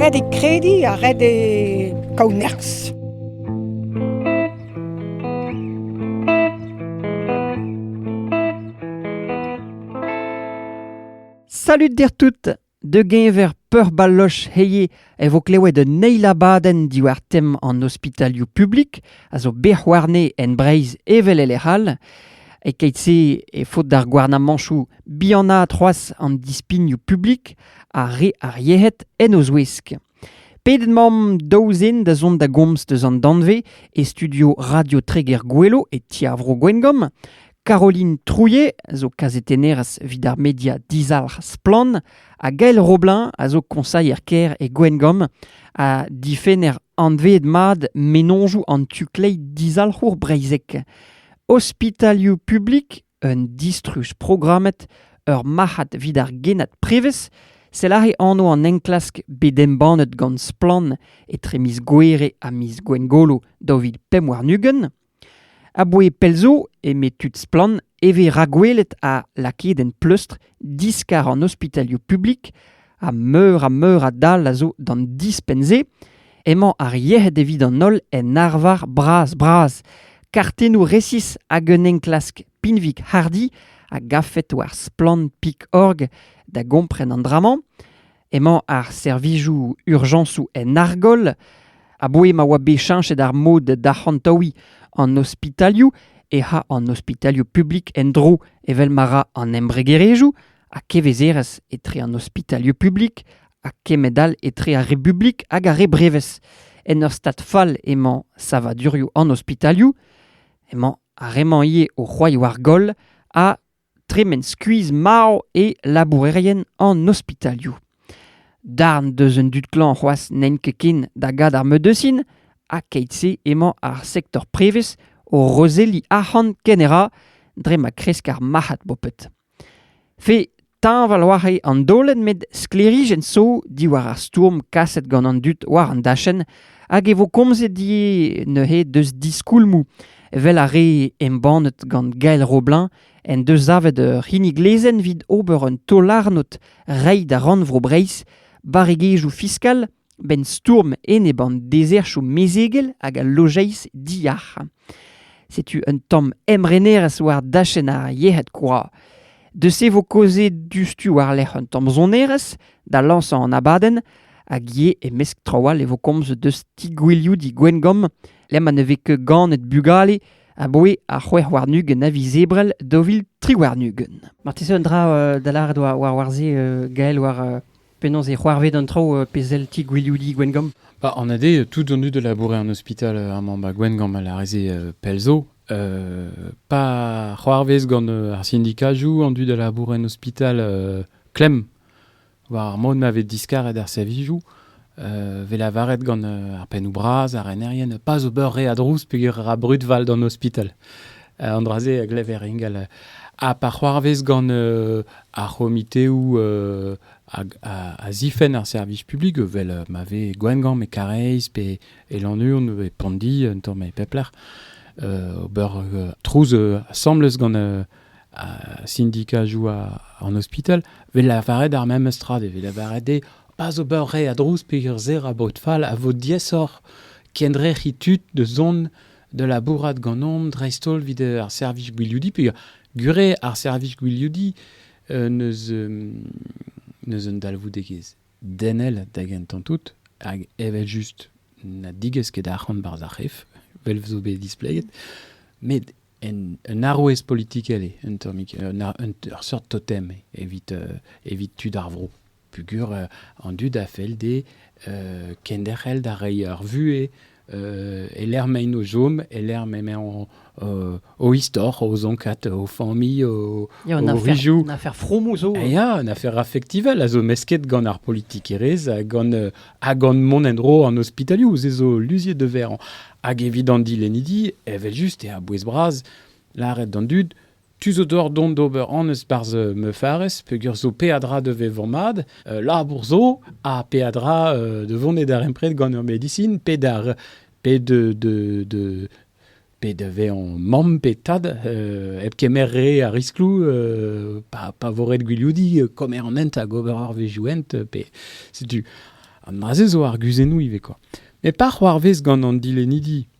Ret eo krediñ ha ret eo kaout nerzh. Salut dir tout! Da-geñver peurbaloch heye e vo klewet un eil abadenn diwar tem an ospitalioù publik a zo bet c'houarne en Breizh evel e lec'h all. E-keit-se e faot d'ar gouarnamañtoù bihanaat c'hoazh an dispignoù publik ha re ar yec'hed en o zouesk. Pedet mamp daou zen da zont da gomz deus an danvez e studio Radio Treger Gouelo e Ti ar Vro Gwengamp. Caroline Trouillet zo kazetennerez evit ar media dizalc'h Splan ha Gael Roblin a zo koñsailher-kêr e Gwengamp ha difenner anveet mat menoñjoù an tu-kleit dizalc'hour breizhek. Ospitalioù publik un distruj programmet ur marc'had evit ar genad prevez sell aze anv an enklask bet embannet gant Splann etre miz Gouere ha miz Gwengolo daou vil pemp warn-ugent. A-bouez pell zo, eme tud Splann, e vez rakwelet ha lakaet en pleustr diskar an ospitalioù publik ha meur ha meur a dal a zo d'an dispenn-se, emañ ar yec'hed evit an holl en arvar bras-bras. Kartennoù resis hag un enklask pinvik-hardi a gavfet war splann.org da gompren an dra-mañ. Emañ ar servijoù urjañsoù en argoll, aboe ma oa bet cheñchet ar mod d'arc'hantaouiñ an ospitalioù e ha an ospitalioù publik en-dro evel ma ra an embregerezhioù, ha kevezerezh etre an ospitalioù publik ha kemend-all etre ar Republik hag ar re brevez. En ur stad fall emañ savadurioù an ospitalioù, emañ ar re-mañ ivez o c'hoaioù ar goll ha tremen skuizh marv e labourerien an ospitalioù. Darn deus un dud klañv c'hoazh n'int ket ken da gad ar medecin, ha keit-se emañ ar sektor prevez o rozelliñ arc'hant kenera dre ma kresk ar marc'had bopet. Fe teñval war'he an daolenn met sklêrijenn zo diwar ar stourm kaset gant an dud war an dachenn hag e vo komzet ivez neuze deus diskoulmoù evel ar re embannet gant Gael Roblin en deus savet ur c'hinnig lezenn evit ober un taol-arnod reiñ da Rannvro Breizh barregezhioù fiskal 'Benn stourm enep an dezerzhioù mezegel hag al lojeiz diyac'h. Setu un tamm emrenerezh war dachenn ar yec'hed kwa. Deus e vo kaozeet diouzhtu war-lerc'h un tamm sonerezh da lañsañ an abadenn hag ivez e-mesk traoù all e vo komz deus ti-gwilioudi Gwengamp lec'h ma ne vez ket ganet bugale aboe ar c'hwec'h warn-ugent a viz Ebrel daou vil tri warn-ugent. Marteze un dra da lâret war, war, war se, Gael, war Penaos e c'hoarved an traoù uh, pe sell ti Gwiliouidi Gwengamp bah, En ade, tout an dud a laboure en ospital euh, amañ bah, Gwengamp a lareze euh, pell zo. Euh, pa c'hoarvez gant euh, ar sindikajoù, an dud a labour en ospital euh, klemm war ar mod ma vez diskaret ar servijoù. Euh, vez lavaret gant euh, ar pennoù bras, ar renerien, pas ober re a drouz peger ra brud val d'an ospital. An dra-se a glever ingal. Ha pa c'hoarvez gant ar c'homiteoù a zifenn ar servij publik, evel ma vez Gwengamp e Kareiz pe e Lannuon e Pondi, un tamm e pep lec'h, ober trouz asambles gant sindika joa an ospital, vez lavaret ar memes tra, vez lavaret eo pas ober re a drouz peger zer a baot fall a vo diaesoc'h kendrec'hiñ tud da zont da labourat ganeomp dreist-holl evit ar servij gwiliodi peogwir gure ar servij gwiliodi euh, n'eus n'eus un dalvoudegezh denel da gentañ tout hag evel-just na digez ket arc'hant barzh ar c'hef vel zo bet displeget met un, un arouez politikel eo un tammig un, un, ur seurt totem evit, euh, evit tud ar vro peogwir an dud a fell dezhe kenderc'hel da reiñ ar vuhez e-lec'h m'emaint o chom, e-lec'h m'emañ o istor, o zonkad, o familh, o, ya, o rijoù. Une affaire fromo zo. Ya, une affaire affectivelle a zo mesket gant ar politikerezh ha gant, ha gant mont en-dro an ospitalioù. Se zo luziet de verre. Hag evit an dilennidi, evel-just, e a bouez bras lâret d'an dud Tu zo deoc'h dont d'ober annez 'barzh Meufarez peogwir zo peadra da vezañ mat. labour zo ha peadra da vont e darempred gant ur medisin pe d'ar pe de de de pe da vezañ mamm pe tad hep kemer re a riskloù pa pa vo ret gwilioudiñ kommer an hent hag ober arvezioù hent pe setu an dra-se zo arguzennoù ivez kwa. met pa c'hoarvez gant an dilennidi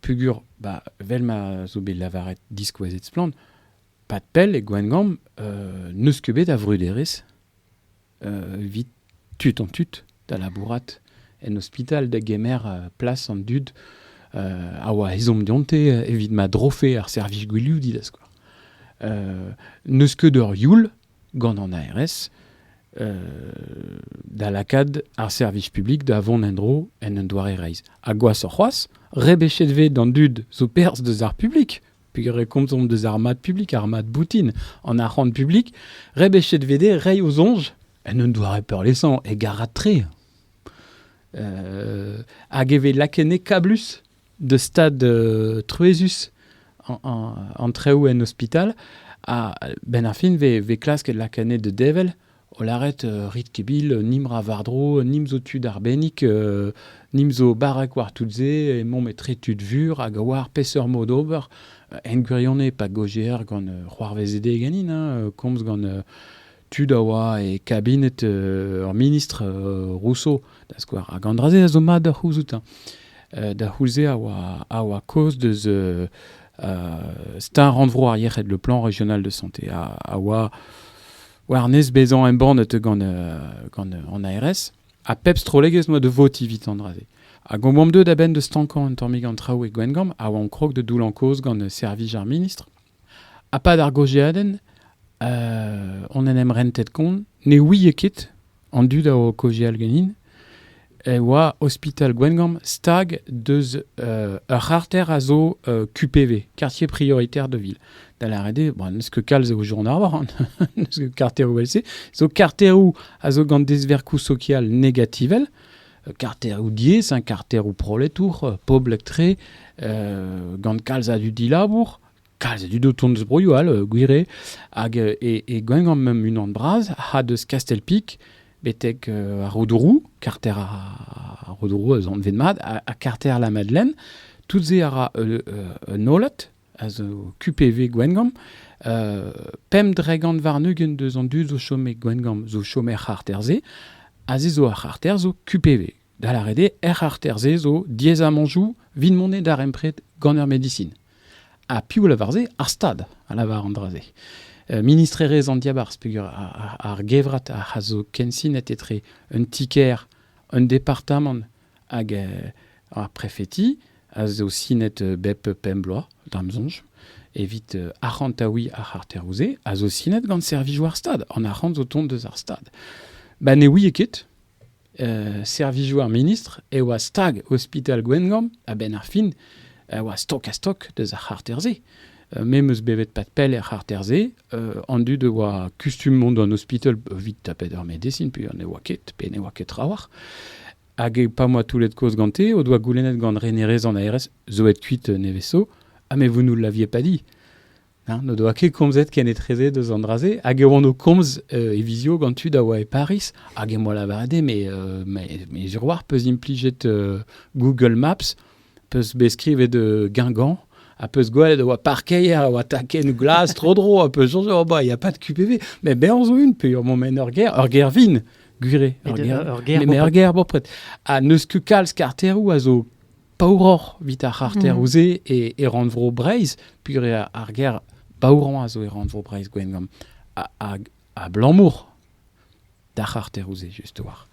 Pugur, bah, vel ma zo bet lavaret diskouezet splann, pad pell e Gwengamp euh, n'eus ket bet a vruderezh euh, evit tud an tud da labourat en ospital da gemer euh, plas an dud euh, a oa ezhomm dionte evit ma drofe ar servij gwiliou didaz quoi. Euh, n'eus ket ur youl gant an ARS da lakaat ar servij publik da vont en-dro en un doare reizh. Ha gwashoc'h c'hoazh, rebechet vez d'an dud zo perzh deus ar publik, pegre komzomp deus ar mad publik, ar mad boutin, an arc'hant publik, rebechet vez dezhe reiñ o soñj en un doare peurliesañ e garad-tre. hag e vez lakennet kablus de stad euh, truezus an traoù en ospital. Ha ben ar fin ve, ve klasket la canet de devel, o laret euh, rit kebil euh, nim ra vardro, nim zo tud arbennik, euh, nim zo barak war tout ze, e mom etre tud vur hag war peseurt mod ober. En gwirione pa gojer gant c'hoarvezede ganin, hein, komz gant tud a oa e kabinet ur ministr Rousseau, da skouer, hag an dra-se a zo mat da c'houzout. da c'houlze a oa, a oa kaoz deus star rannvro ar yec'hed, le plan régional de santé, a, a oa war-nes bezañ embannet gant, gant an ARS, ha pep strollegezh noa de votiñ evit an dra-se. Hag on boamp deuet a-benn de stankañ un tammig an traoù e Gwengamp, a oa on krog de doullañ kaoz gant servij ar ministr. A-pad ar gaozeadenn on en em rentet kont, ne ouie ket an dud a oa o kaozeal ganin, e oa ospital Gwengamp stag deus ur c'harter a zo QPV, quartier prioritaire de ville. Da lâret eo, bon, n'eus ket kalz eo Arvoran, n'eus ket karteroù vel-se, zo karteroù a zo gant dezverkoù sokial negativel, karteroù diaes, hein, karteroù proletour, poblek-tre, gant kalz a dud dilabour, kalz a dud o tont eus broioù all, euh, gwire, hag euh, e, e gwengamp mem unan bras, ha deus Kastelpik, betek euh, ar Rodourou, karter ar Rodourou eus anvet mat, ha, karter la Madeleine, tout se a ra un holat, a zo QPV Gwengamp. Euh, pemp dregant varnugent deus an dud zo chom e Gwengamp zo chom er c'harter-se, a ze zo ar c'harter zo QPV. Da la rede, er c'harter-se zo diez a manjou vin monet darempred gant ar medicine. Ha piou lavar se ar stad, a lavar an dra-se. Euh, ministrerez an diabarz peger ar, ar gevrat a zo kensinet etre un tiker, un departamant hag ar prefeti a zo sinet bep pemp bloaz, d'am sonj, evit euh, arc'hantaouiñ ar c'harteroù-se, a zo sinet gant servijoù ar Stad, en arc'hant o tont deus ar Stad. Ba ne ouie ket, euh, servijoù ar ministr e oa stag Ospital Gwengamp a-benn ar fin, a oa stok-ha-stok deus ar c'harter-se. me 'm eus bevet pad pell er c'harter-se. an dud a oa kustum mont d'an ospital evit tapet ar medesin, pe ne oa ket, pe ne oa ket trawalc'h. Hag pa oa toullet kozh gante, o doa goulennet gant renerez an aerez zo et kuit neveso, ha me vous nous l'aviez pas dit. N'o doa ket komzet ken etreze deus an dra-se, hag e oan o komz e vizio gant tud a oa e Paris, hag em boa lavaret, mais, mais, mais sur war peus implijet Google Maps, 'peus bet skrivet Guingamp ha 'peus gwelet a oa parkeier a oa takenn glas tro-dro ha 'peus soñj oh bah y a pas de QPV mais bezañ zo une peogwir emañ maen ur gêr ur gêr vin gwire ur gêr mais ur gêr bopred ha n'eus ket kalz karteroù a zo paouroc'h 'vit ar c'harteroù-se e rannvro Breizh puilh ar gêr paourañ a zo e rannvro Breizh Gwengamp abalamour d'ar c'harteroù-se just war.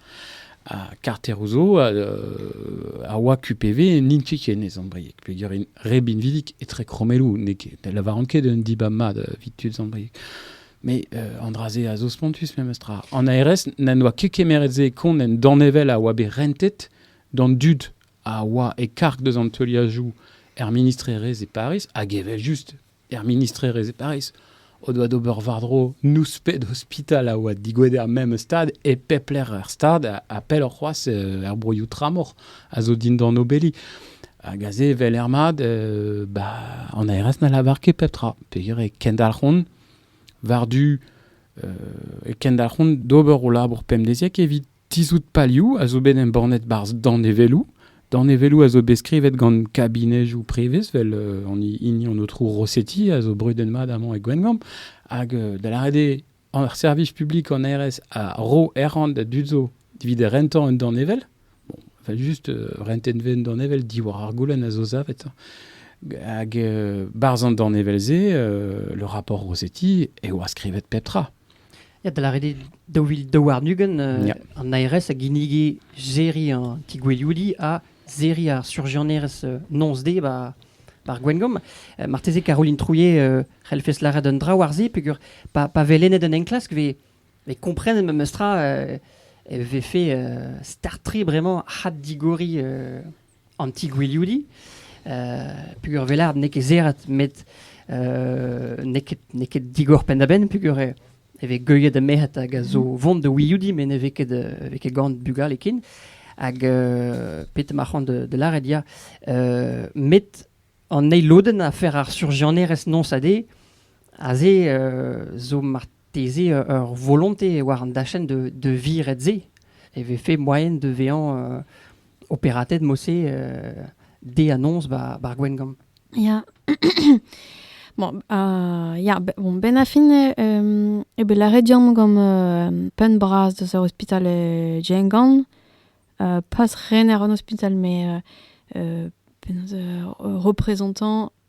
Ha karteroù zo a, oa QPV n'int ket ken ez ambriek. Peger re binvidik etre kromelloù n'eo ket. Ne lavaran ket un dibab mat evit tud ambriek. Mais euh, Andrase a zo spontus memes tra. En ARS, n'en doa ket kemeret se kont en danevell a oa bet rentet d'an dud a oa e karg deus an teuliajoù er ministrerezh e Paris, hag evel just er ministrerezh e Paris, o doa d'ober war-dro nouspet ospital a oa digouet er memes stad, e pep lec'h er stad, ha pelloc'h c'hoazh euh, er broioù tramor a zo dindan obeli. Hag aze, vel ermad, euh, ba, an aerez na lavar ket pep tra. Peger e kendalc'hont war-du euh, e kendalc'hont d'ober o labour pemdeziek evit Tizhout palioù a zo bet embannet barzh danevelloù. Danevelloù a zo bet skrivet gant kabinejoù prevez, vel euh, an hini an aotrou Rossetti a zo brudet mat amañ e Gwengamp, hag euh, da lâret eo ar servij publik an RS a ro errant da dud zo evit rentañ un danevel. Bon, vel juste euh, rentent un danevel diwar ar goulenn a zo savet. Hag euh, barzh an danevel-se, euh, le rapport Rossetti, eo a skrivet pep tra. da lâret eo daou vil daou warn-ugent euh, an ARS a ginnige serriñ an ti-gouelioudi ha serriñ ar surjianerez euh, noz-de ba par Gwengamp. Euh, marteze Caroline Trouillet euh, c'hellfes lâret un dra war-se peger pa, pa vez lennet un enklask vez, vez komprenet memes tra euh, e vez fait euh, startriñ vraiment had digoriñ euh, an ti-gwilioudiñ, peger velard n'eo ket serret met n'eo ket, n'eo ket digor penn-da-benn peger e, e vez geuilhet ha merc'hed hag a zo vont da wilioudi met ne vez ket, vez ket gant bugale ken. Hag petra ma c'han de, de lâret ya, met an eil lodenn a fer ar surjianerezh noz ha de, aze zo Bez' eo ur volonte war an dachenn da da viret-se e vefe moaien da vezañ operatet mod-se dezhanañs ba'r Gwengamp. Ya, bon ah ya bon benn ar fin eo bet lâret deomp gant penn-bras deus ar ospital Diengant pas ren àr an ospital met penaos reprezentant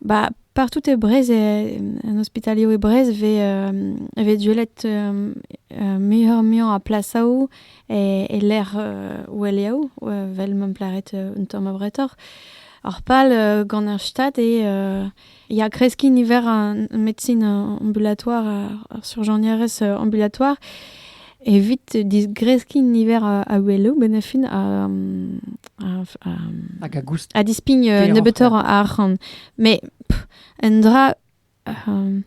Bah, partout e Brest, e, en ospitalioù e Brest, e vez, e vez duellet muioc'h-muiañ a plasaoù e, e-lec'h oueliaoù, vel m'em plaret un tamm abretoc'h. Ar pal gant ar Stad eo ya kreskiñ niver an medsin ambulatoire, ar surjañierez ambulatoire. Evit disgreskiñ niver a oueloù, benn a fin Hag a goust. A dispign nebeutoc'h a arc'hant. Mais un dra, un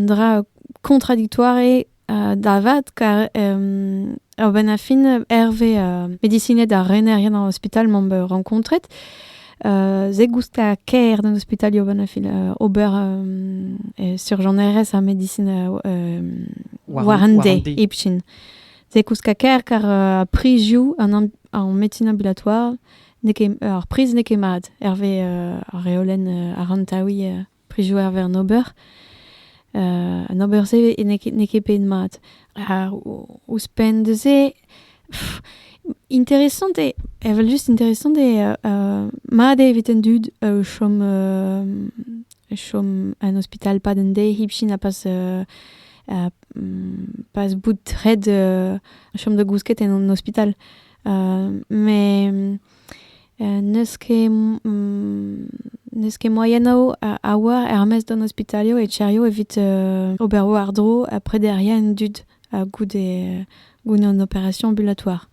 dra contradictoire eo da vat, car benn a fin, Hervé, medisined ha renerien an ospital, m'am boa renkontret, ze gousta ker d'an hospitalio van a fin ober sur Jean Erres a medicin warende ipchin. Ze gouska ker kar uh, priziou an an médecine ambulatoire ar priz n'eo ket mat, Hervé uh, ar reolen uh, arantawi uh, prijoù ar vern ober. Uh, an ober-se n'eo ket bet mat. Ar, ouzhpenn de se, interesant eo, evel-just interesant eo uh, mat eo evit an dud uh, chom, uh, chom an ospital pad an de hipchin a pas uh, uh, pas bout red uh, chom da gousket en an ospital. Uh, mais N'eus ket n'eus ket moaien a-walc'h er-maez d'an ospitalioù e Tcherrio evit ober war-dro ha prederia an dud goude goude an operasion ambulatoire.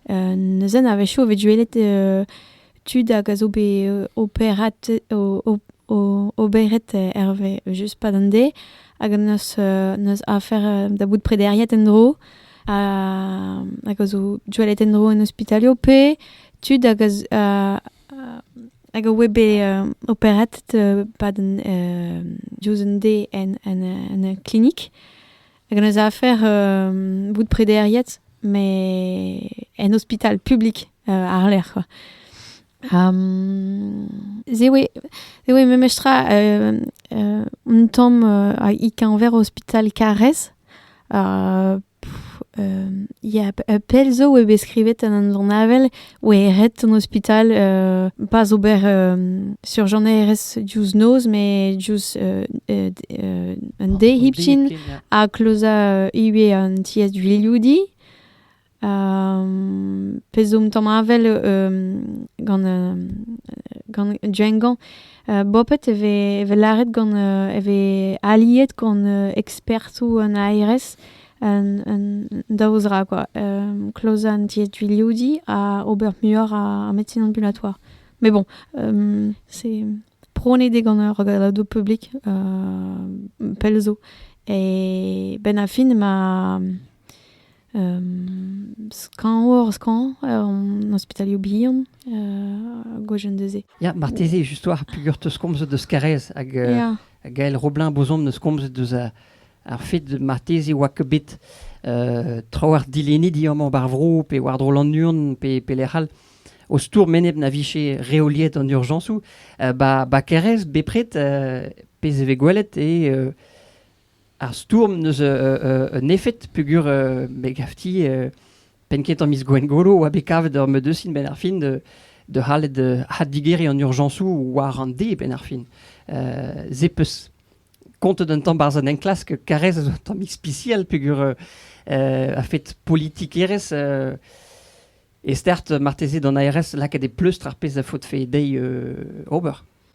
neuzen a-wechoù e vez gwelet tud hag a zo bet operat oberet hervez just pad an deiz hag neus neus afer da bout prederiet en-dro. hag a zo doualet en-dro en ospitalio pe tud hag a, hag a oe bet uh, operatet uh, pad an uh, diouzh un de en, en, en klinik. Hag an eus afer uh, bout prederiet, mais en ospital publik uh, ar lec'h, quoi. Um, ze oe, ze oe memestra uh, uh, un tamm uh, a i keñver ospital Karez, Ya, pell zo oe bet skrivet en un journavel oe ret an ospital euh, pas ober euh, surjonerezh diouzh noz met diouzh euh, un day hipchin ha klozañ ivez an tiez vilioudi. pezh zo un tamm avel gant, gant Django. bopet e vez, e vez lâret gant, e vez aliet gant ekspertoù an ARS un, un daou zra quoi. Um, klozañ an dietvilioudi ha ober muioc'h a, a médecine ambulatoire. Mais bon, um, c'est pronet gant ur regaladoù publik uh, pell zo. Et ben a fin ma skañv oc'h skañv an ospitalioù bihan gwejenn neuze. Ya, marteze just war peger teus komzet eus Karrez hag uh, Gael Roblin Bozom neus komzet eus ar fet marteze oa ket bet uh, trawalc'h dilennidi amañ bar vro pe war-dro Lannuon pe, pe lec'h all o stourm enep na vije reoliet an urjañsoù uh, ba, ba Karrez bepred uh, pezh e vez gwelet e uh, Ar stourm n'eus un efed peogwir me gavti penn-kentañ miz Gwengolo oa bet kavet ur medecin benn ar fin da c'hallet addigeriñ an urjañsoù war an dez benn ar fin. Se 'peus kontet un tamm 'barzh an enklask Karrez a zo un tamm ispisial peogwir a-fet politikerezh e start marteze d'an ARS lakaat e pleustr ar pezh a faotfe dezhi ober.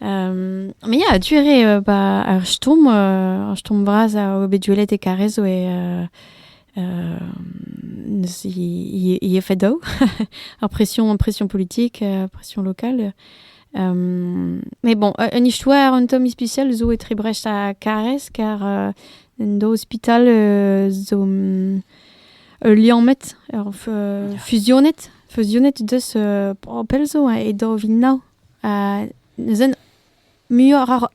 Mais ya, tu ere ba ar stumm ar stumm vras a oa bet gwelet e Karrezo e neus i i efed daou ar pression pression politique pression locale mais bon un histoire un tom ispicial zo etre Brest ha Karrez car un do hospital zo ul liammet ur fusionet fusionet deus pell zo e daou vil nav neuze muioc'h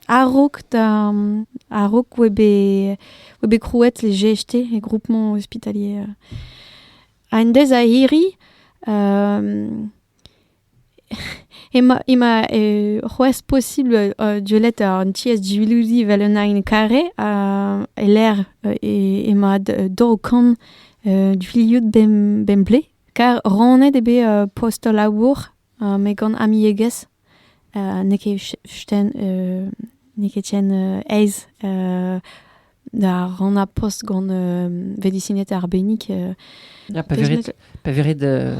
a-raok a-raok oa bet krouet les GHT e groupement hospitalier ha en dez a hiri ema c'hoazh posibl deuet an tiez diwilidi evel un aen kare e-lec'h ema daou kant du-livoud bemdez. Kar rannet eo bet uh post ul labour uh met gant amiegez. Uh n'eo ket ch- chten uh n'eo ket ken uh aes uh da rannañ post gant uh vedisined arbennik. uh Ya, pa Deus verit, pa verit euh,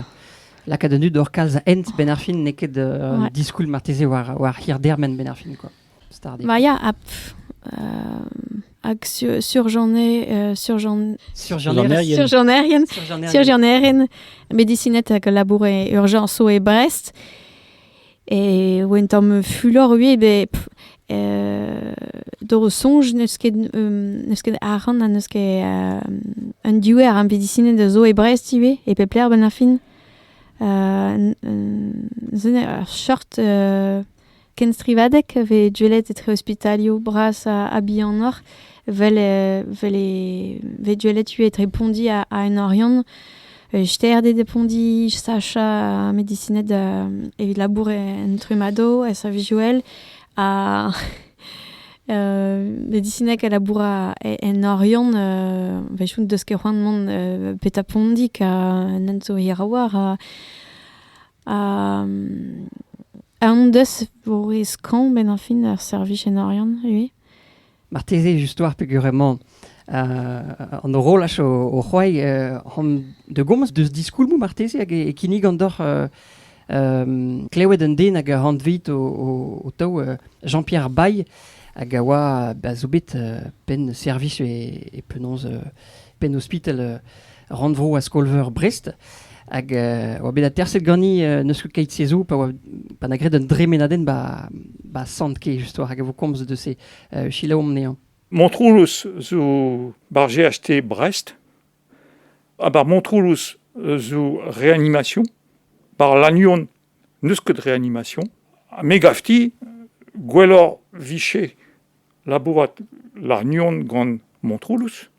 lakaat an dud oc'h kalz a hent benn ar fin n'eo ket euh, Ouais. diskoulm marteze war, war hir dermen benn ar fin. Quoi. Stardé. Ma ya, ha pff, euh, hag sur, surjane, euh, surjan, Surjanaerien. surjanerien, Surjanaerien. surjanerien, medicinet hag labour e urjañso e Brest. E oen tamm fulor ui, be pff, euh, d'o soñj n'eus ket, um, n'eus ket arc'hant ha n'eus ket euh, un diouer ar medicinet zo e Brest ivez, e pep lec'h benn ar fin. Euh, n- n- ze ne- ur short euh, Kenstrivadeg a vez gwelet etre ospitalioù bras ha bihanoc'h, vel e vez gwelet ivez etre Pondi ha en Oriant. Stêrded e Pondi, sachañ medisined evit labour en trummado, en servij-ouel, ha medisinek a labour en Oriant, vezont deus ket c'hoant mont petra Pondig, ha nend zo hiraouañ, ha Un deus voe skañv benn ar fin ar servij en Oriant ivez. Marteze just-war peger emañ uh, an horolaj o, o c'hoai uh, hom de gomz deus diskoulmoù marteze hag e, e kinnig an doc'h uh, um, klewet un den hag a hantveit o, o, o taou uh, Jean-Pierre Baye hag a oa ba, zo bet uh, penn servij e, e penaos uh, penn-ospital rannvro a skol-veur Brest. Hag euh, oa bet aterset gani euh, neus ket keit sezou pa oa pa na gred un dremenadenn ba ba sant ke justoire hag a vo komz de se euh, chilaom nehañ. Montroulous zo bar GHT Brest, ha bar Montroulous zo réanimation, bar Lannion neus ket réanimation, me gafti gwelloc'h viche labourat Larnion gant Montroulous,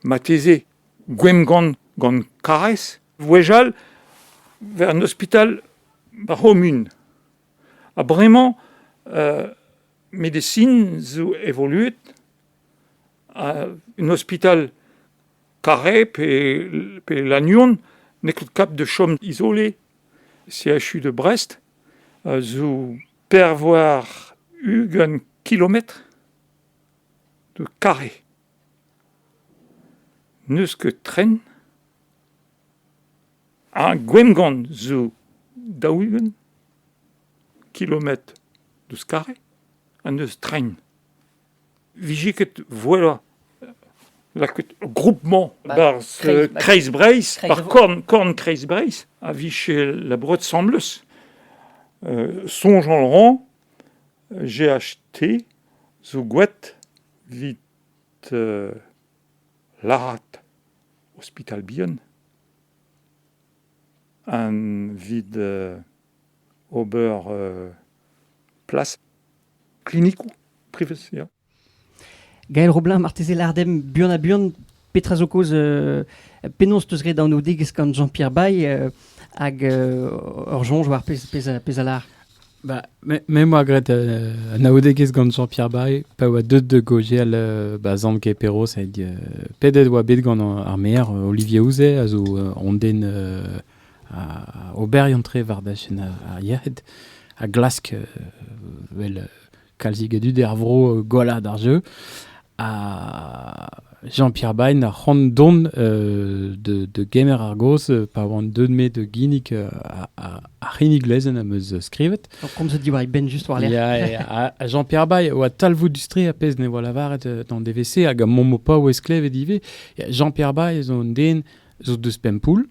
Marteze Gwemgon gant Karaez 'vwezhall 'vez an ospital ba'r c'homun ha bremañ medesin zo evoluet ha un ospital Carré pe pe Lannuon n'eo ket kap da chom izole CHU de Brest zo perv war ugent kilometr. 'zo kare. N'eus ket tren. Ha Gwengont zo daou-ugent kilometr deus Kare ha n'eus tren. Vije ket voilà lakaet groupement Ba- barzh Kreiz- ba- Kreiz-Breizh, Kreiz- par korn, korn Kreiz-Breizh, a vije labouret 'sambles. Euh, soñj en ran GHT zo gwad evit lârat ospital bihan evit ober plas klinikoù prevez. Ya. Gael Roblin, marteze lâret dimp buan-ha-buan petra zo kaoz, euh, penaos 'teus graet anaoudegezh gant Jean-Pierre Baye euh, hag euh, ur soñj war pezh pezh a- pezh a lâr. Bah, me, me 'moa graet euh, anaoudegezh gant Jean-Pierre Baye pa oa deut da gaozial euh, ba Zamk e Perroz hag euh, pedet oa bet gant ar maer euh, Olivier Ouzet a zo euh, an den euh, a ober an tre war dachenn ar, ar yec'hed a glask euh, wel, euh, kalzik a dud er vro gollañ d'ar jeu. Ha Jean-Pierre Bain a c'hoant dont euh, de, de Gemer Argos euh, pa oan deut me de ginnig euh, ar c'hinnig lezenn am eus skrivet. Comme se dit ben juste war lec'h. Jean-Pierre Bain oa talvoud dustri a pezh ne oa lavaret d'an DVC hag a momo pa oa esklevet ivez. Jean-Pierre Bain zo un den zo deus Pempoul,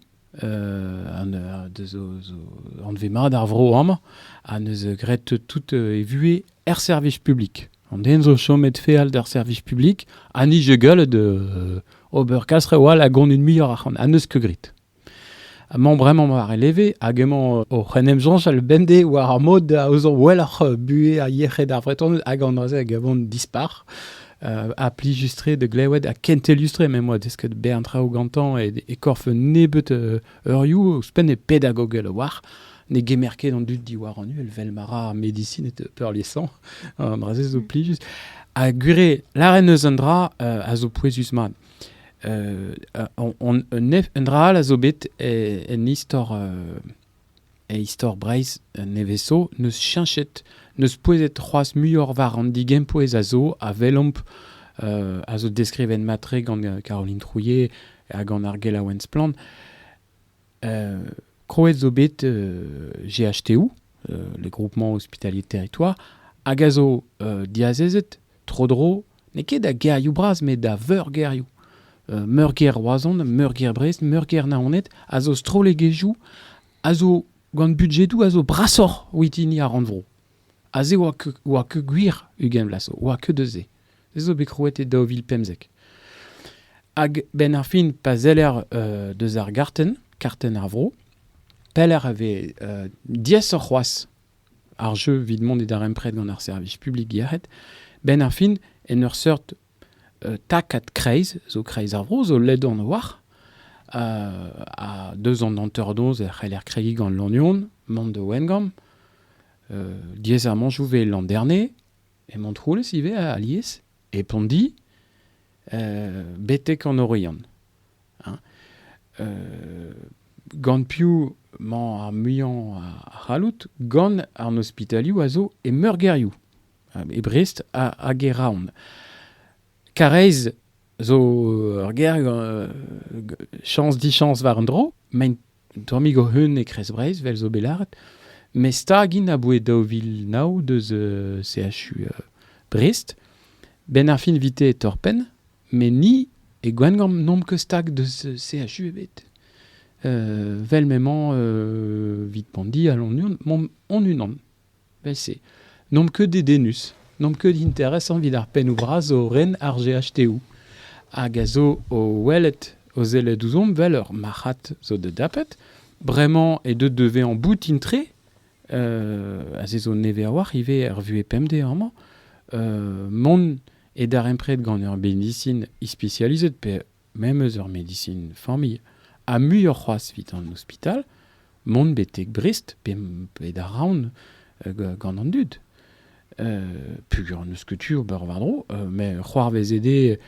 anvet mat ar vro amañ, ha neus graet tout e vuhez er servij publik. An den zo chomet feal d'ar servij publik, ha ni je gallet ober kas rewall a gonit muioc'h ac'han, ha neus ket grit. Amañ bremañ war e leve, hag emañ oc'h en em soñjal bemdez war ar mod a zo welloc'h buhez ha yec'hed ar Vretoned, hag an noazh hag a vont dispar. ha plijustre da glewet ha kentellustre m'em boa desket bern traoù gantañ e, e korf un nebeut uh, eurioù ouzhpenn e pedagogel war ne gemer ket an dud diwar an uhel vel ma ra medisin et peurliesañ an dra-se zo plijus ha gure laren eus un dra uh, a zo pouezus-mat uh, un, un, un, dra all a zo bet en, en istor uh, E istor Breizh nevez zo n'eus cheñchet, n'eus pouezet c'hoazh muioc'h war an digempouez a zo a welomp a zo deskrivet mat-tre gant Caroline Trouillet ha gant ar gelaouenn Splann. Krouet zo bet GHTU, le groupement hospitalier Territoire, hag a zo diazezet tro-dro, n'eo ket da gêrioù bras, met da veurgêrioù. Uh, meurgêr Roazhon, meurgêr Brest, meurgêr Naoned a zo strollegezhioù a zo gant budjedoù a zo brasoc'h oit hini ar rannvro. Aze oa que, oa que gwir ugent vlas, oa que deus se. Se zo bet krouet e daou vil pemzek. Hag ben ar fin, pa zeller uh, deus ar garten, karten ar vro, peller a vez uh, diaesoc'h c'hoazh ar jeu 'vit mont e darempred gant ar servij publik yec'hed, 'benn ar fin en ur seurt takad kreiz zo kreiz ar vro zo ledon war ha deus an hanter-noz e c'heller kregiñ gant Lannuon mont da Wengamp diaes ar mañjoù 'vez Landerne e Montroulez ivez alies e Pondi, betek an Oriant. gant piv mañ ar muiañ a c'hallout, gant an ospitalioù a zo e meurgêrioù, e Brest hag e Raon. Kareiz zo ur gêr, chañs, dichañs war un dro, mein Un tammig hoc'h-un e Kreiz Breizh, vel zo bet lâret. Met stag int aboe daou vil nav deus euh, CHU euh, Brest. Ben ar fin vite e torr-penn, met ni e Gwengamp n'omp ket stag deus euh, CHU ebet. Euh, vel m'emañ euh, 'vit Pondi, allon-unan, m'omp on-unan. Beñ-se. N'omp ket dedennus. N'omp ket interesant evit ar pennoù bras zo o ren ar GHToù hag a zo o welet, o sellet ouzhomp vel ur marc'had zo da dapet. Bremañ eo deuet da vezañ boutin-tre, euh aze zo nevez a-walc'h ivez er vuhez pemdez amañ, euh mont e darempred gant ur medisin ispisializet pe memes ur medisin familh ha muioc'h c'hoazh evit an ospital mont betek Brest pe bet a-raon gant an dud pugur n'eus ket tu ober war-dro met c'hoarvez ede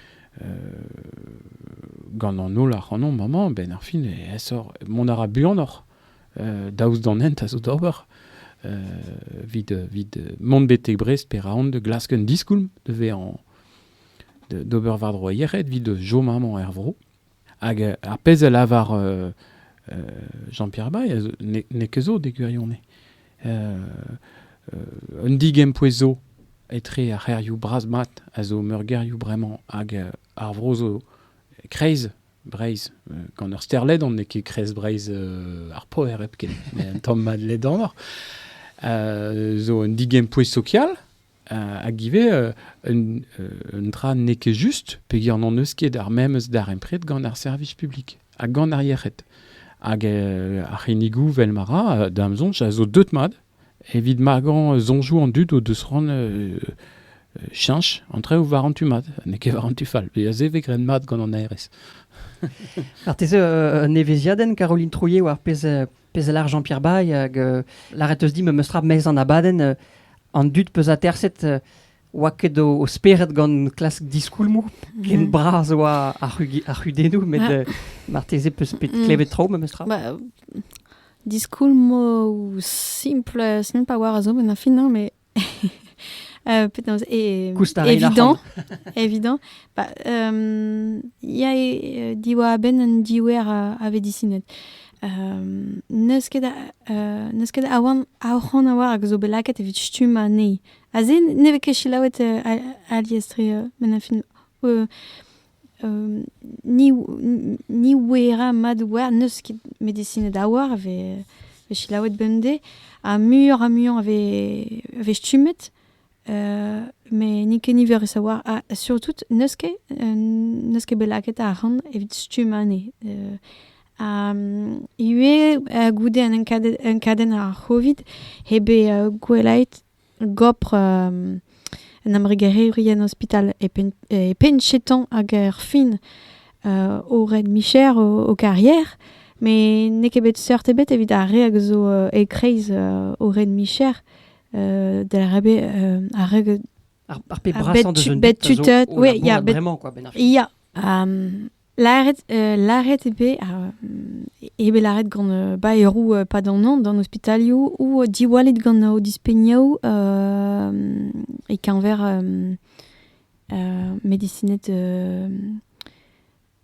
gant an holl ac'hanomp amañ benn ar fin aesoc'h mont a ra buanoc'h daoust d'an hent a zo d'ober evit mont betek Brest pe raon de glask un diskoulm da vezañ d'ober war-dro ar yec'hed evit chom amañ er vro. Hag ar pezh a lavar Jean-Pierre Bay n'eo ket zo d'e gwirionez. un digempouez zo etre ar c'hêrioù bras-mat a zo meurgêrioù bremañ hag ar vro zo kreiz Breizh. Gant ur sterledan n'eo ket kreiz Breizh ar poer hepken, met un tamm mat ledanoc'h. zo un digempouez sokial hag ivez un dra n'eo ket just peger n'hon eus ket ar memes darempred gant ar servij publik ha gant ar yec'hed. Hag ar c'hinnigoù, vel ma ra, da'm soñj, a zo deut mat evit magañ soñjoù an dud o deus c'hoant cheñch entre war an tu mat, n'eo ket war an tu fall. a se vez graet mat gant an ARS. Marteze un evezhiadenn, Caroline Trouillet, war pezh Pezh a lar Jean-Pierre Baye, hag euh, lâret eus dit memes tra mez an abadenn, euh, an dud peus aterset euh, oa ket o, spered gant klask diskoulmoù, ken mhm. bras oa ar, c'hudennoù, met ah. marteze peus bet mm. klevet tro memes tra. Bah, diskoulmoù simple, simple a zo, mais na fin, mais euh, penaos e, evidant evidant ba, um, ia e, diwar ben un diouer a, a vedisinet um, neus ket uh, neus ket awan aoc'han a war hag zo bet lakaet evit stumm anezhi a se ne vez ket selaouet uh, alies tre uh, men a fin uh, ni ouera mat oar n'eus ket medisined a-walc'h a vez selaouet bemdez ha muioc'h ha muiañ a vez stummet met n'int ket niverus a-walc'h ha surtout n'eus ket n'eus ket bet lakaet arc'hant evit stumm anezhe ha ivez goude an enkadenn ar c'hovid eo bet gwellaet Gopr un embregerezhien ospital e Pen- e Pencheton hag er fin o red micher o o karier met n'eo ket bet seurt ebet evit ar re hag zo e-kreiz o red micher da rabe ar re ar ar pep brasañ deus un bet tutet oui ya bet vraiment quoi benn ar fin. ya ha Lâret, euh, lâret eo bet, eo bet lâret gant euh, baeroù euh, padanañ d'an ospitalioù ou diwallit gant o dispegnoù e-keñver medisined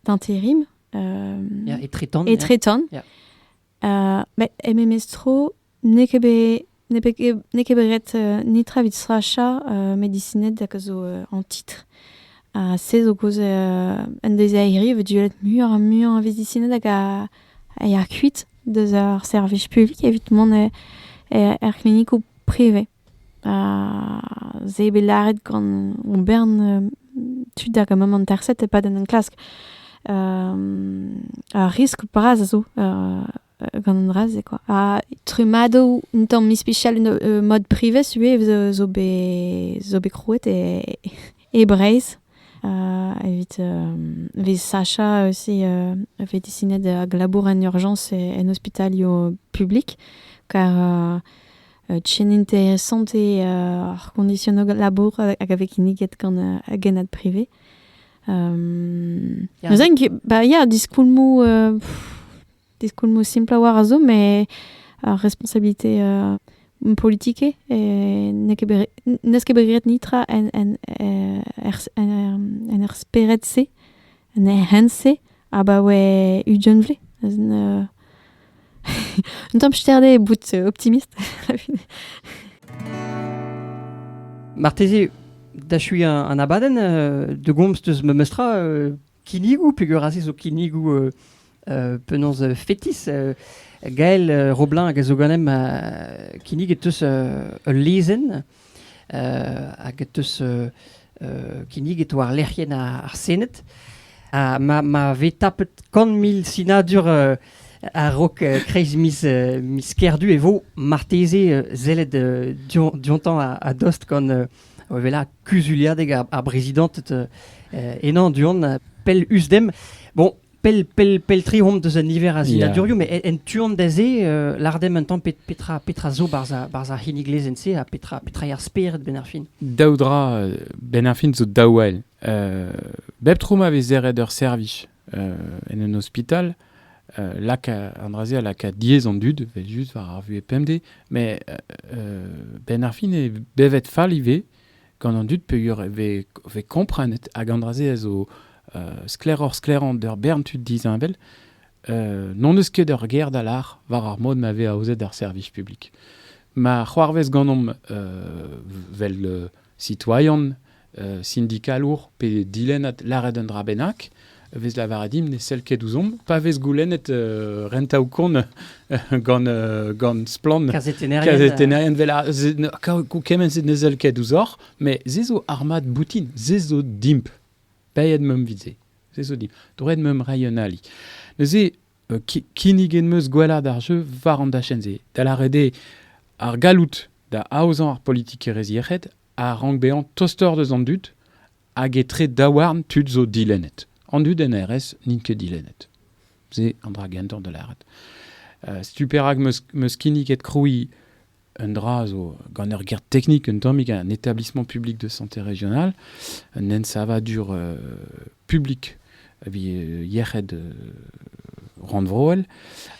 d'intérim. Yeah, etretan. Etretan. Yeah. Uh, met MMS Tro N'eo ket bet n'eo bet ket n'eo ket bet ret netra evit srachañ medisined hag a zo en titr. Ha se zo kaoz un deiziairi e vez diellet muioc'h ha muiañ a vedisined hag a ya kuit deus ar servij publik evit mont er klinikoù privez. Ha se eo bet lâret gant hon bern tud hag a mont anesaet e-pad an enklask. ar riskl bras a zo gant an dra-se quoi. Ha trumadoù un tamm ispicial euh, mode privé sué zo bet zo bet krouet e, e Breizh euh, evit vez Sacha aussi euh, fait dessiner de glabour en urgence et en hospitalio public car tien interessante et ar conditionno labour avec iniget gant a genad privé. Um, yeah. Neuzen, ba, yeah, diskoulmou uh, Diskoulmoù simpl a-walc'h a zo, met ar responsabilité euh, politike n'eo ket bet n'eus ket bet graet netra en en en er spered-se, en er hent-se abaoe ugentve. Un tamm sterdet bout optimiste. Marteze, da chui un abadenn euh, de gomz deus memes tra euh, Kinnigoù, peogwir aze zo kinnigoù euh, euh, penaos euh, fetis. Euh, Gael euh, Roblin hag a zo ganem euh, kinnig e teus euh, ul lezenn euh, hag e teus euh, euh, kinnig e to ar lec'hienn ar, ar Sened. Ha ma, ma vez tapet kant mil sinadur euh, a-raok euh, kreiz miz, euh, miz Kerdu e vo marteze euh, sellet euh, dion- diontañ a- a-dost gant euh, o wellañ kuzuliadeg ar, ar brezidanted henañ du-hont pell us-dem. Bon, pell, pell, pell tri omp deus an niver a zinadurioù, yeah. mais en, en tu-hont da se, uh, lardem un tamm petra, petra zo barzh ar, barzh ar c'hinnig lezenn-se ha petra, petra eo ar spered ben ar fin. Daou dra, ben ar fin zo daou all. Uh, bep tro ma vez serret ur servij en un hospital, un dra-se a laka diaes an dud, vel just war ar VPMD, mais ben ar fin e bevet fall ivez gant an dud peogwir e ve komprenet hag an dra-se a zo sklaeroc'h sklaerant d'ur bern tud disheñvel, n'on eus ket ur ger da lar war ar mod ma vez aozet ar servij publik. Ma c'hoarvez ganomp vel citoyen, sindikalour pe dilennad lâret un dra bennak, vez lavaret dimp ne sell ket ouzhomp pa vez goulennet uh, rentaoù-kont gant, uh, gant splann kazetennerien vel kement se ne sell ket ouzhoc'h met se zo armad boutin se zo dimp payet meump vit se se zo dimp droed meump rai un ali neuze kinniget 'm eus gwellaat ar jeu war an dachenn-se, da lâret eo ar galloud da aozañ ar politikerezh yec'hed a rank bezañ tostoc'h deus an dud hag etre daouarn tud zo dilennet. An dud en RS n'int ket dilennet. Se an dra gentañ da lâret. setu perak 'm eus kinniget krouiñ un dra zo gant ur guerre technique un tammig un établissement public de santé régional un ensavadur euh, public yec'hed euh, randvroel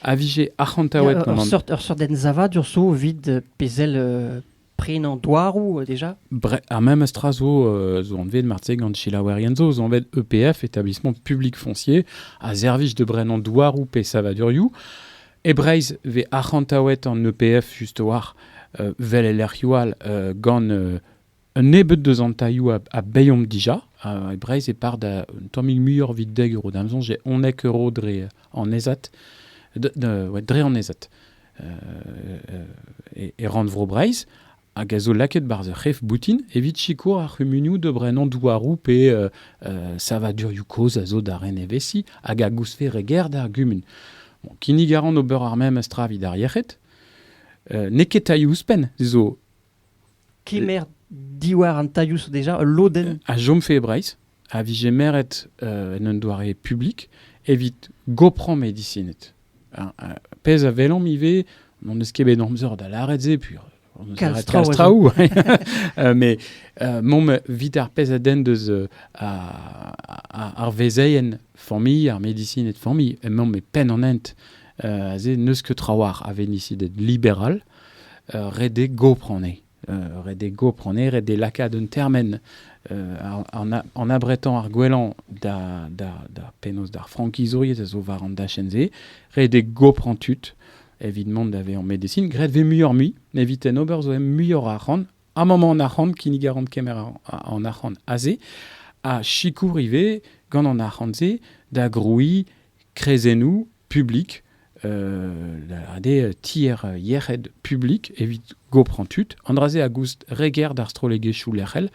a vije arc'hantaouet ur sort ensavadur zo vide pezel euh, prin an douarou euh, déjà Bre Ar même stra zo euh, zo anvet martse gant chilaouerien zo zo anvet EPF établissement public foncier a servij de brenan douarou pe savaduriou E Breizh vez arc'hantaouet an EPF just a-walc'h, vel e lec'hioù all, gant un nebeud deus an tailhoù a baeomp dija. E Breizh e par da un tammig muioc'h evit dek euro. Da'm soñj eo unnek euro dre an ezat, dre an ezat e rannvro Breizh. hag a zo lakaet barzh ur c'hef boutin evit sikour ar c'humunioù da brenañ douaroù pe savadurioù kozh a zo da ren evezhiñ hag a gousfe re ger d'ar gumun. kinnig a ran ober ar memes tra evit ar yec'hed. N'eo ket tailhoù ouzhpenn, se zo... Kemer diwar an tailhoù zo déjà ul lodenn... A chomfe e Breizh. a vije meret en un doare publik evit goprañ medisined. pezh a welomp ivez, n'hon eus ket bet amzer da lâret se, puis on eus lâret kalz traoù. mais momp evit ar pezh a denn deus ar vezeien familh, ar medisined familh, emaomp e penn an hent aze n'eus ket trawalc'h a venisided liberal redek goprañ anezhe. ret eo gopronerezh d'e lakaat un termen an abretañ ar gwellañ da penaos d'ar frankizouriezh a zo war an dachenn-se ret eo goprañ tud evit mont da vezañ medesin graet e vez muioc'h-mui evit en ober zo muioc'h arc'hant a maman an arc'hant kinnig a ran kemer an arc'hant aze ha sikour ivez gant an arc'hant-se da grouiñ kreizennoù publik, ade tier yec'hed publik evit gopran tud, an dra-se a goust reger d'ar strollegezhioù lec'hel,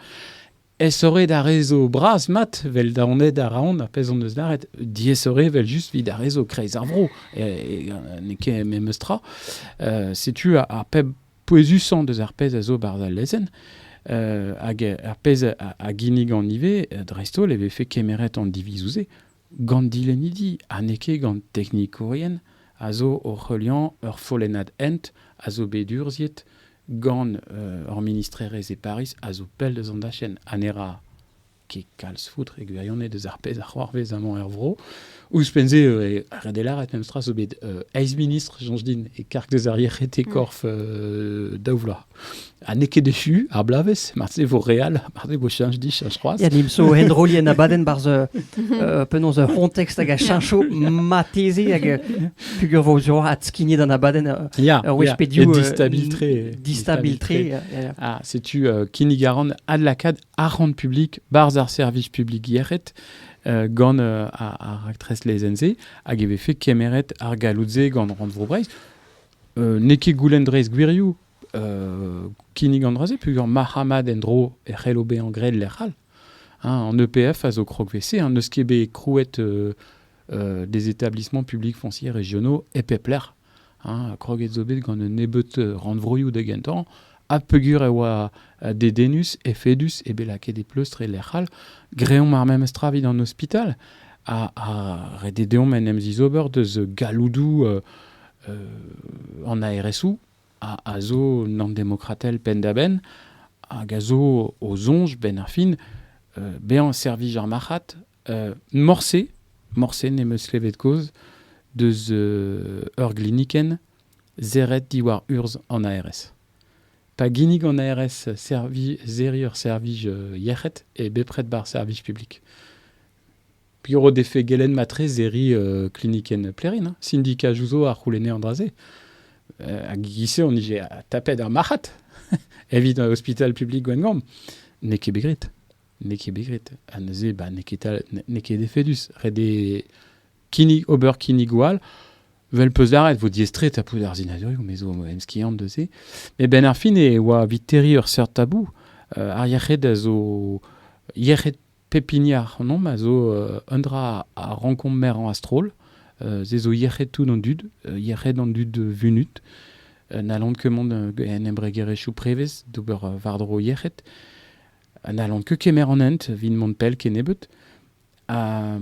esore da rezo bras mat, vel daonet a raon, ar pezh hon eus lâret, diesore vel just vid ar rezo kreiz ar vro, n'eo ket memes tra. setu ar pep pouezusañ deus ar pezh a zo barzh al lezenn, hag ar pezh a, a ginnigan ivez, dreist-holl e vefe kemeret an divizoù-se, Gant dilennidi ha n'eo ket gant teknikourien a zo oc'h heuliañ ur follennad hent a zo bet urzhiet gant hor ministrerezh e Pariz a zo pell deus an dachenn ha ne ra ket kalz foutr e gwirionez deus ar pezh a c'hoarvez amañ er vro. Ouzhpenn-se eo ret lâret memes tra zo bet eizh ministr, soñj din, e karg deus ar yec'hed e korf daou vloaz. Ha n'eo ket echu ar bloavezh, marteze vo re all, marteze vo cheñch dit, cheñch c'hoazh. Ya, nimp zo enroli en abadenn barzh uh, uh, penaos ur c'hontexte hag a cheñcho mateze hag uh, fugur vo zo adskignet an abadenn uh, yeah, ur wech yeah. pediou Et distabil-tre. distabil-tre. Ah, setu uh, kinnigaran adlakad arc'hant publik barz ar servij publik Gierret uh, gant uh, ar raktres lezenze hag e vefe kemeret ar galoutze gant Rand Vro-Breizh. n'eo ket goulenn dreist gwirioù kinnig an dra-se peogwir marc'hamad en-dro e c'hello bezañ graet lec'h all. An EPF a zo krog WC, n'eus ket bet krouet des établissements publics fonciers régionaux e pep lec'h. Kroget zo bet gant un nebeud rannvroioù da gentañ Ha peogwir e oa dedennus, efedus eo bet lakaet e pleustr e lec'h all, greomp ar memes tra evit an ospital. Ha, ha ret eo deomp en em zizober deus galloudoù an ARSoù, a zo an demokratel penn-da-benn, hag a zo o soñj, benn ar fin, bezañ servij ar marc'had Morse, morse n'em eus klevet kaoz deus ur glinikenn serret diwar urzh an ARS. Pa ginnig an ARS servij, serriñ ur servij yec'hed eo bepred bar servij publik. Piv ro defe gelenn matre serriñ klinikenn Plérine, sindika Jouzo a c'houlenne an dra-se. Hag e-giz-se on ije tapet ar marc'had evit ospital publik Gwengamp. N'eo ket bet graet. N'eo ket bet graet. Ha neuze, ba, n'eo ket, tal- n'eo ket efedus. Ret eo kinnig, ober kinnigoù all. Vel peus lâret, vo diaestret ha pout ar sinadurioù, me zo emskiant deus se. Met benn ar fin e oa evit terriñ ur seurt tabou. Euh, ar yec'hed a zo... Yec'hed pep hini ac'hanomp a zo euh, un dra a rankomp merañ a-stroll. Euh, se zo yec'hed tout an dud, euh, yec'hed an dud vunut. Euh, N'hallont ket mont euh, en embregerezhioù prevez d'ober euh, war-dro yec'hed. n'hallont ket kemer an hent evit mont pell kennebeut. Ha,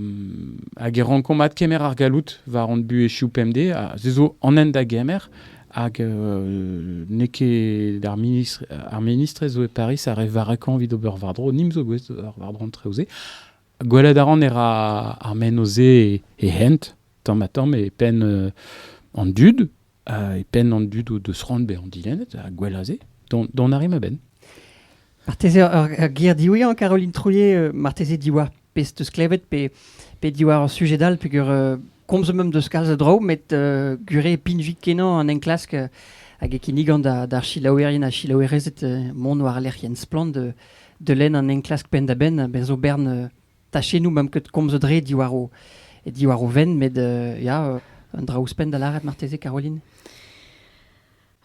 hag e rankomp adkemer ar galloud war hon buhezioù pemdez, ha se zo an hent da gemer. Hag euh, n'eo ket ar ministre, ar ministre zo e Paris a re varakañ evit ober war-dro, nim zo gouest war-dro an treoù-se. Gwelet a ran e ra ar menoz-se e hent, tamm ha tamm, e penn euh, an dud, e penn an dud o deus c'hoant bezañ dilennet ha gwell a-se, dont a rit a-benn. Marteze ur ger diwezhañ, Caroline Trouillet, marteze diwar pezh teus klevet pe, pe diwar ur sujed all peger uh, komzomp em deus kalz a draoù met uh, gure e pinvik-kenañ an enklask uh, hag e kinnigan d'ar selaouerien ha selaouerezed uh, mont war lec'hienn Splann de, de lenn an enklask penn-da-benn a-berzh o bern uh, tachennoù m'am ket komzet re diwar o, diwar o venn, met euh, ya, euh, un dra ouzhpenn da lâret marteze, Caroline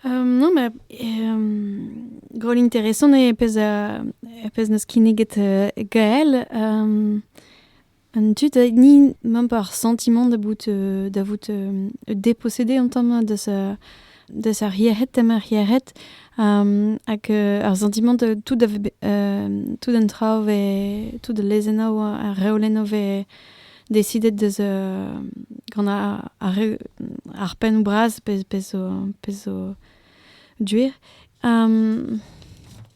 Um, no, ma um, gol interesant e pez, uh, e pez n'eus kinniget uh, gael. Um, an tu da ni mam par sentiment da vout, uh, da vout uh, dépossédé en tam deus uh, de ar yec'hed, tem ar yec'hed, hag ar sentiment de tout, tout an traoù ve, tout al lezennoù, ar reolennoù ve decidet deus gant ar pennoù bras pezh zo duer.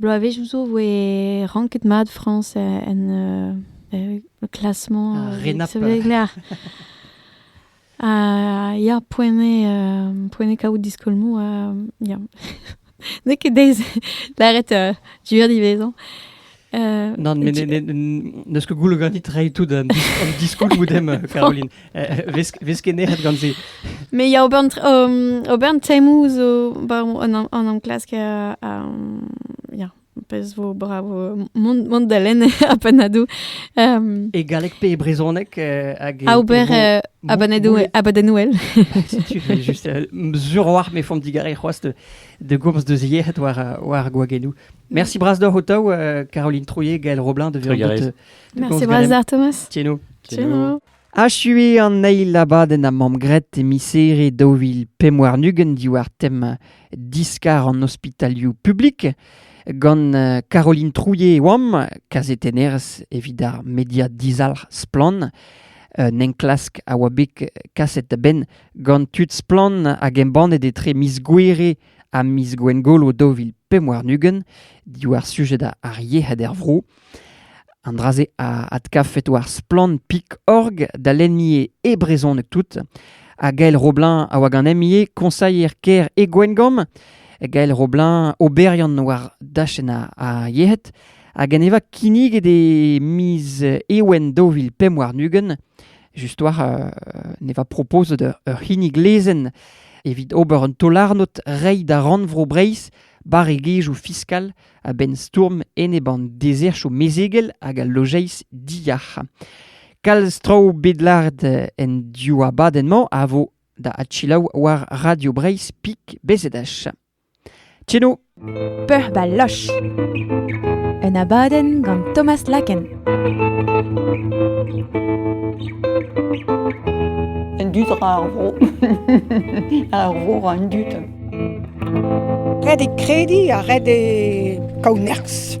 Bloavezhioù zo e voe ranket mat Frañs en le classement ah, Ha ya, poent eo kaout diskolmoù. ya. N'eo ket deiz lâret du diwezhañ. Non, mais neus que goullo ganit rei tout an diskoul moudem, Caroline. Veskeneret gant se. Mais il y a ober ober teimou zo an am klask a ya pez vo bravo mont da len a panadou. E galek pe e brezonek hag a ober abadenouel. Juste sur war me font digare c'hoaz de gomz de ziet war war gwagenou. Merci bras d'oc'h ho-taou, euh, Caroline Trouillet, Gaël Roblin de Vérandot Merci bras Thomas. Tieno. Tieno. Achue an eil abadenn a mam gret e misere daou vil pemwar nugen diwar tem diskar an ospitalioù publik gant euh, Caroline Trouillet e oam, kazetennerez evit ar media dizalc'h splan, un enklask a oa bet kaset da ben gant tud splan hag embannet etre miz gouere ha miz Gwengolo daou vil pemp warn-ugent, diwar sujed ar yec'hed er vro. An dra-se a adkavfet war splann.org da lennie e brezhoneg tout. Ha Gael Roblin a oa gant MIE, konsailher kêr e Gwengamp. Gael Roblin, oberiant war dachenn ar yec'hed. Hag en eva kinniget e miz Ewen daou vil pemp warn-ugent just war uh, ne va propozet ur c'hinnig lezenn evit ober un taol-arnod reiñ da rannvro Breizh barregezhioù fiskal a-benn stourm enep an deserchoù mezegel hag al lojeiz diyac'h. Kalz traoù bet lart en div abadenn-mañ a vo da adchilaou war Radio Breizh Pik Bezedach. Tcheno, peuc'h ba loch! Un abadenn gant Thomas Laken. An dud ra ar vro. ar vro ra an dud. Ret e krediñ ha ret e kaout nerzh.